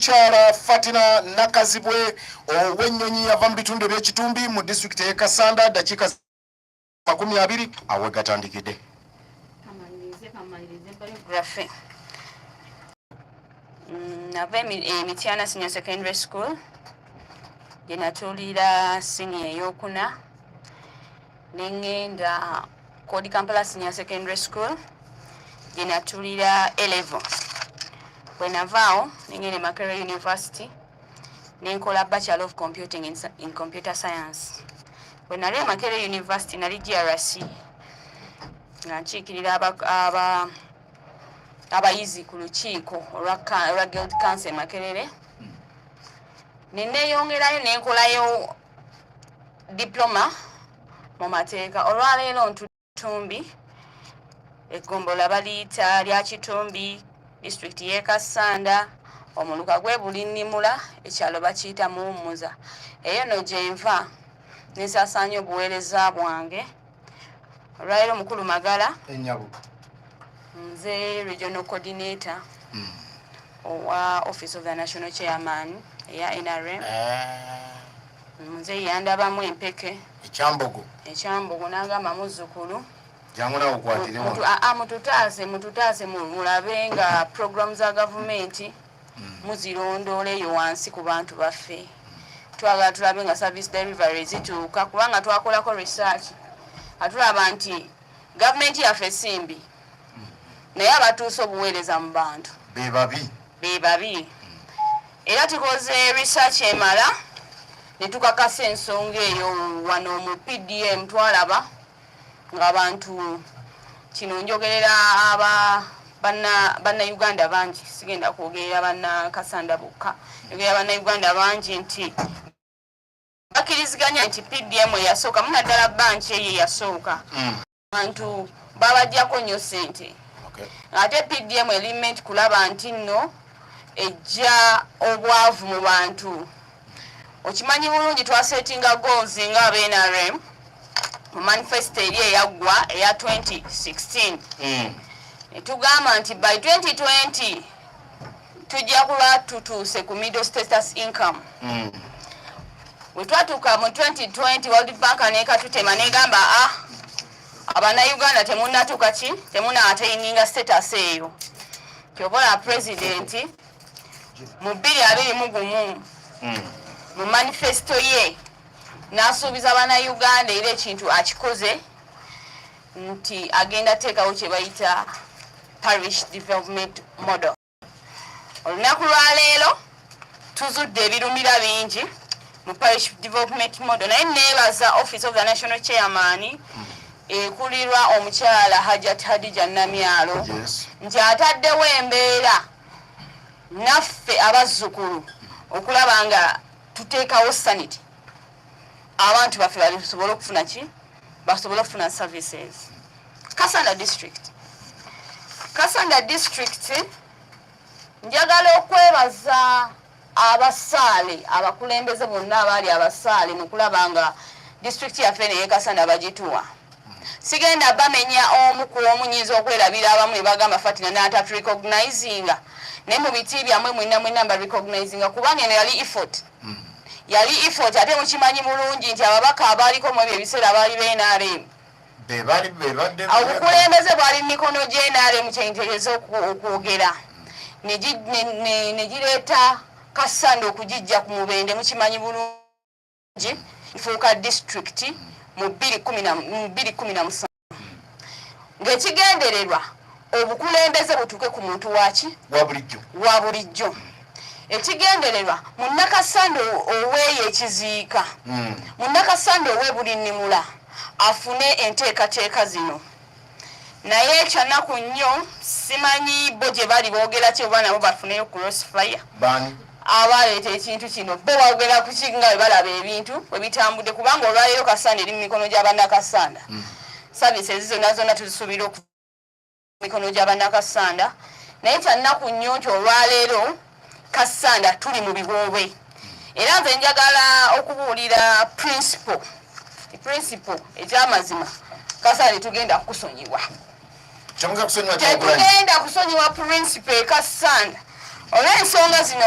Omukyala Fatina Nakazibwe ow'ennyonyi yava mu bitundu eby'ekitumbi mu disitulikiti ey'e Kasanda ddakiika makumi abiri awe gatandikidde. Mm, nava emityana eh, senior secondary school gyenatuulira siniya eyokuna nengenda Kodi Kampala Senior Secondary School gye natulira A level. Bwe navaawo nengenda e Makerere University ne nkola Bachelor of Computing in, in Computer Science. Bwe nali e Makerere University nali GRC nga nkiikirira aba, aba abayizi ku lukiiko olwa Guild Council e Makerere. Hmm. Ne neeyongerayo ne nkolayo diploma mu mateeka olwaleero ntutumbi eggombola baliyita lya kitumbi disitulikiti y'e kassanda omuluka gwe bulinnimula ekyalo bakiyita muwummuza eyo no gye nva nensasaanya obuweereza bwange olwaleero mukulu magala enyabo nze regional coordinator hmm. owa office of the national chairman eya nrm ah. muzeeyi yandabamu empeke ekyambogo ekyambogo n'agamba muzzukulu jangu nawe okwatire wano ah, ah, mututaase mututaase mulabe nga puroguramu za gavumenti hmm. muzirondoola eyo wansi ku bantu baffe twagala tulabe nga service delivery zituuka kubanga twakolako research atulaba nti gavumenti yaffe simbi naye abatuusa obuweereza mu bantu bebabi bebabi era tukoze research emala netukakasa ensonga eyo wano mu pdm twalaba ngaabantu kino njogerera aba bannayuganda bangi sigenda kwogerera bannakasanda bokka njogerera bannayuganda bangi nti bakiriziganya nti pdm eyasooka munaddala banki eyo eyasooka hmm. abantu babajjako nnyo sente ate pdm element kulaba nti nno ejja obwavu mu bantu okimanyi bulungi twasetinga goals nga abnrm mu manifesto eri eyaggwa eya 2016 hmm. netugamba nti by 2020 tujja kuba tutuuse ku middle status income mm. wetwatuuka mu 2020 world bank nekatutema negamba a ah, abanauganda temunatuuka ki temunataininga status eyo kyobola presidenti mu bbiri abiri mu gumu mm. mu manifesto ye nasuubiza banauganda era ekintu akikoze nti agenda teekawo kye bayita parish development model olunaku lwaleero tuzudde ebirumira bingi mu parish development model naye neebaza office of the national chairman ekulirwa omukyala hajat hadija namyalo nti ataddewo embeera naffe abazzukulu okulaba nga tuteekawo sanity abantu baffe basobole okufuna ki basobole okufuna services kasanda district kasanda district njagala okwebaza abasaale abakulembeze bonna abaali abasaale mukulaba nga disitulikiti yaffe neyekasana bagituwa sigenda bamenya omu ku omu nyinza okwerabira abamu nebagamba fatina nataturecognizinga naye mu biti byamwe mwena mwena mba recognizinga kuba neno yali effort yali effort ate mukimanyi bulungi nti ababaka abaaliko mu ebyo ebiseera baali be nrm obukulembeze bwali mu mikono gye nrm kyentereza okwogera ne gireeta kassanda okugijja ku mubende mukimanyi bulungi ifuuka disitulikiti mu bbiri kumi na musanvu ng'ekigendererwa obukulembeze butuuke ku muntu waki wa bulijjo ekigendererwa munnakasande oweeyo ekiziika hmm. munnakasande owe buli nnimula afune enteekateeka zino naye ekyanaku nnyo simanyi bo gye bali boogera ki oba nabo bafuneyo crossfire abaaleeta ekintu kino bo bawogera kuki nga bwe balaba ebintu bwe bitambudde kubanga olwaleero kasanda eri mu mikono gya bannakasanda mm. saavisi ezi zonna zonna tuzisuubira oku mikono gya bannakasanda naye kyannaku nnyo nti olwaleero kasanda tuli mu biwoobe era nze njagala okubuulira principle principle ekyamazima kasanda tetugenda kukusonyiwa tetugenda kusonyiwa principle ekasanda olw'ensonga zino